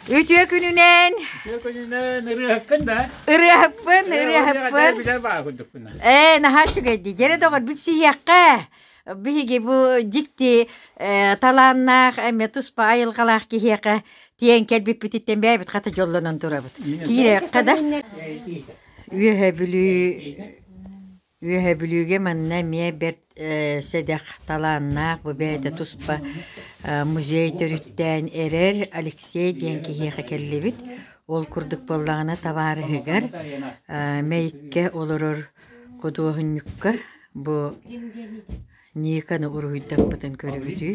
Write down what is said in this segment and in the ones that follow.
Үтүө күнүнэн Үтүө күнүнэн ырыаһыккын да? ырыаһыппын, ырыаһыппын. Билэр баа курдукпунна. Ээ, наһаа үчүгэйдии. Дьэрэ доҕор билсиһиэххэ. Биһиги бу дьикти э, талааннаах, эмиэ туспа айылҕалаах киһиэхэ тиийэн кэлбиппититтэн бэйэбит хата дьоллонон турабыт. Киирэххэ да. Үөһэ Бүлүү Үөһэ Бүлүүгэ манна эмиэ бэрт э, сэдэх талааннаах бу бэйэтэ туспа э, музей төрүттээн эрэр Алексей диэн киһиэхэ кэллибит. Ол курдук буоллаҕына табаарыһыгар э, Мэйиккэ олорор худуоһунньукка бу Никаны уруһуйдаппытын көрүбүтүй?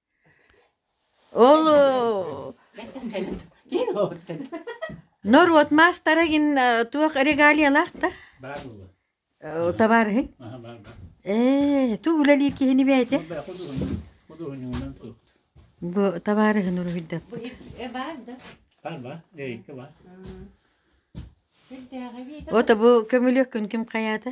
Оо норуот маастара гин туох регалиялаах да табаарыһыҥ ээ туох үлэлиир киһини бэйэтэ бу табаарыһын уруһуйдатта ото бу көмүлүөккүн ким хайаата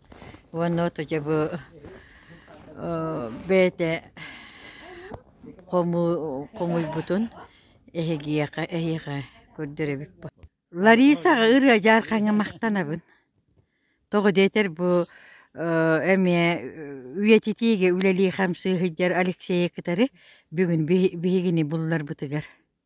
уонна отуча бу бэйэтэ хому хомуйбутун эһигиэхэ эһиэхэ көрдөрөбүт Ларисаҕа ырыа дьаархаҥҥа махтанабын тоҕо диэтэр бу эмиэ үйэтитиигэ үлэлии хамсыы сылдьар Алексейы кытары бүгүн биһигини булларбытыгар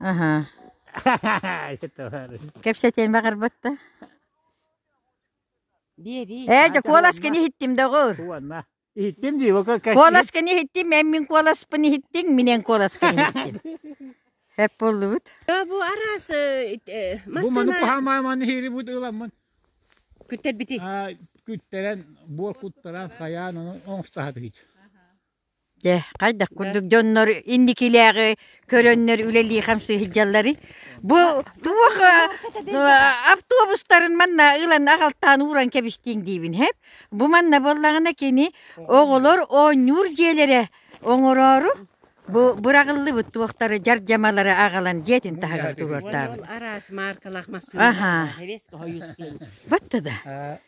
Аха. Кэпсэтиэн баҕарбат да? Биэрии. Ээ, дьэ, куоласкын иһиттим доҕор. Уонна. Иһиттим дии, Куоласкын иһиттим, мен мин куоласпын иһиттиҥ, минен куоласкын иһиттим. Эп боллубут. Бу арас Бу массына... маны кухамааман хирибут ыламмын. Күттэр бити. Күттэрен, буор куттаран, хайаан ону оңстаһатыгыт. Дьэ, хайдах курдук дьоннор инникилээҕи көрөннөр үлэлии хамсыы сылдьалларый? Бу туох автобустарын манна ылан аҕалтаан ууран кэбистиҥ диибин хэп. Бу манна буоллаҕына кини оҕолор оонньуур дьиэлэрэ оҥороору бу быраҕыллыбыт туохтары дьардьамалары аҕалан дьиэтин таһыгар туруортаабыт. Араас маркалаах массыына. Аха. Батта да.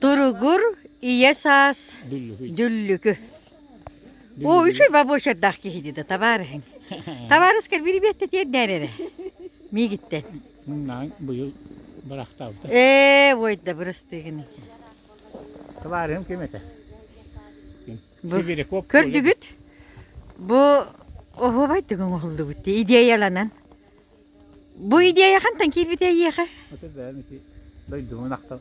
Туругур ийэ саас дьүллүкү. Оо, үчүгэй бабочердаах киһи дии да табаар иһин. Табаарыскар бирибиэтте тиэрдээр эрэ. Миигиттэн. Наан быйыл бырахтаабыта. Ээ, ой да бырастыгын. Табаарым ким этэ? Сибиряков. Көрдүгүт? Бу оһубай түгүн оһуллубут идеяланан. Бу идея хантан киирбитэ эйиэхэ? Оту бэйэм ити дойдумун ахтал.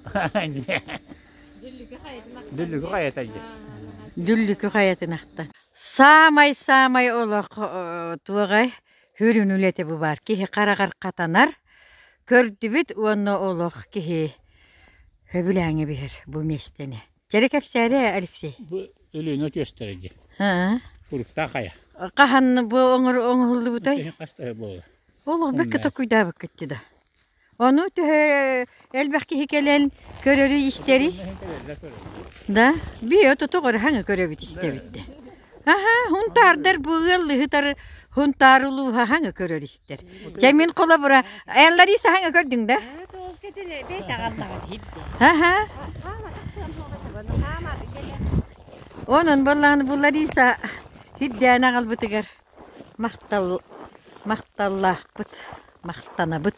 Дүллүкү хайатан дьэ. Дүллүкү хайатын ахтан. Саамай-саамай олох туоҕай хүрүн үлэти бу бар. Киһи хараҕар хатанар, көрдүбүт уонна олох киһи хөбүлээҥи биһэр бу миэстэни. Кэрэ кэпсээри, Алексей. Бу Өлүөнэ түөстэрэ дии. Уруктаах айа. Хаһан бу оҥоһуллубутай? Хаста буолла? Болу бэккэ токуйдаабыккытты да. Ону төһө элбэх киһи кэлэн көрөрү-истэри? Да? Биэ тутук ырыһаҥы көрөбүт истэбитте. Аха, хунтаардар бу ыал ыһытары хунтаары улууһа хаҥа көрөр истэр. Дьэ мин холобура Эллариса хаҥа көрдүҥ да? Аха. Онон боллааны бу Лариса хирдээн аҕалбытыгар махтал махталлаахпыт махтанабыт.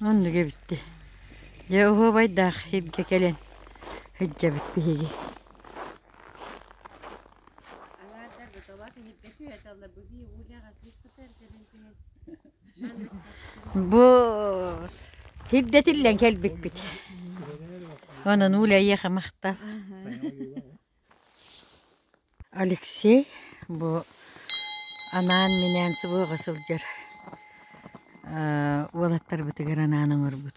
Оннук эбитти. Дьэ уһуобайдаах иһирдьэ кэлэн сылдьабыт биһиги Бу сирдэтиллэн кэлбиппит. Онон Уля эйиэхэ махтал. Алексей бу анаан-минээн субуоҕа сылдьар уолаттарбытыгар анаан оҥорбут